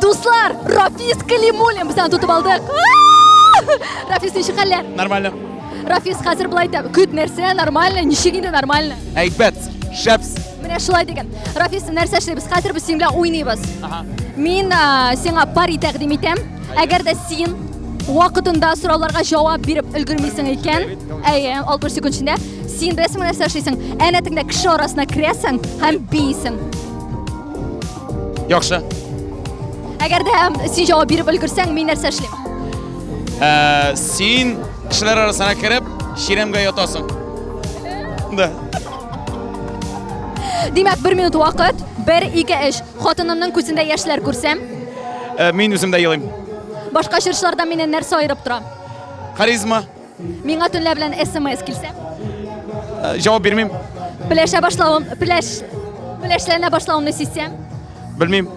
Дуслар, Рафис Калимуллин безне тотып алдык. Рафис, ничек хәлләр? Нормально. Рафис, хәзер былай да көт нәрсә нормально, ничек инде нормально? Әйбәт, шәпс. Менә шулай дигән. Рафис, нәрсә эшлибез? Хәзер без синең белән уйныйбыз. Ага. Мин а, сиңа пари тәкъдим итәм. Әгәр дә син вакытында сорауларга җавап биреп өлгермисең икән, әйе, 60 секунд эчендә син беләсеңме нәрсә эшлисең? Әнәтеңдә кеше арасына керәсең һәм бийсең. Яхшы. Әгәр дә һәм син җавап биреп өлгерсәң, мин нәрсә эшлим? Ә, син кешеләр арасына кереп, чиремгә ятасың. Да. Димәк, бер минут вакыт, бер, ике, эш. Хатынымның күзендә яшьләр күрсәм. Ә, мин үзем дә елыйм. Башка чыршылардан мине нәрсә аерып тора? Харизма. Миңа төнлә белән смс килсә? Э, җавап бирмим. Пеләшә башлавым, пеләш, пеләшләнә башлавымны сизсәм? Белмим.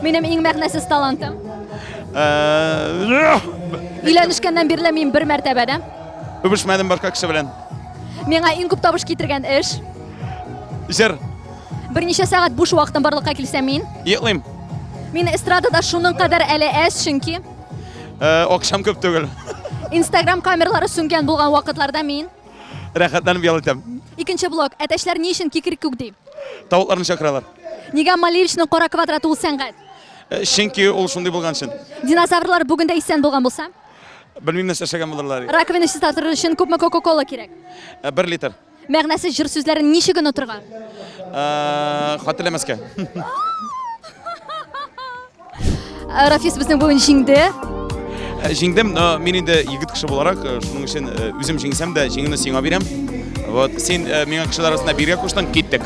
Минем иң мәгънәсез талантым. Э, Өйләнешкәннән бирле мин бер мәртәбә дә. Үбешмәдем башка кеше белән. Миңа иң күп табыш китергән эш. Җыр. Берничә сәгать буш вакытым барлыкка килсә мин. Йоклыйм. Мин эстрадада шуның кадәр әле әз, чөнки Э, Акшам көп түгел. Инстаграм камерлары сүнгән булган вакытларда мин Рәхәтләнеп ял итәм. Икенче блок. Әтәчләр ни өчен кикрек күк ди? Тавыкларны чакыралар. Нигә Малевичның кара квадраты ул сәнгать? Э, Чөнки ул шундый булган өчен. Динозаврлар бүген дә исән булган булса, Белмим нәрсә эшләгән булырлар. раковина чиста торыр өчен күпме кока-кола кирәк? Э, Бер литр. Мәгънәсез җыр сүзләрен ничек онытырга? Э, Хәтерләмәскә. Э, Рафис безнең бүген җиңде. Э, Җиңдем, но мин инде егет кеше буларак, э, шуның өчен э, үзем җиңсәм дә, җиңүне сиңа бирәм. Вот, син э, миңа кешеләр арасында биргә куштың, киттек.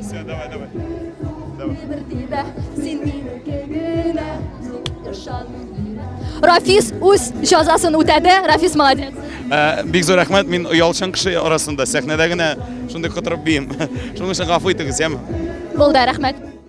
Все, давай, давай. давай. Рафис үз җәзасын үтәде. Рафис молодец. Э, бик зур рәхмәт. Мин оялчан кеше арасында сәхнәдә генә шундый котырып биим. Шуның өчен гафу итегез, яме. Булды, рәхмәт.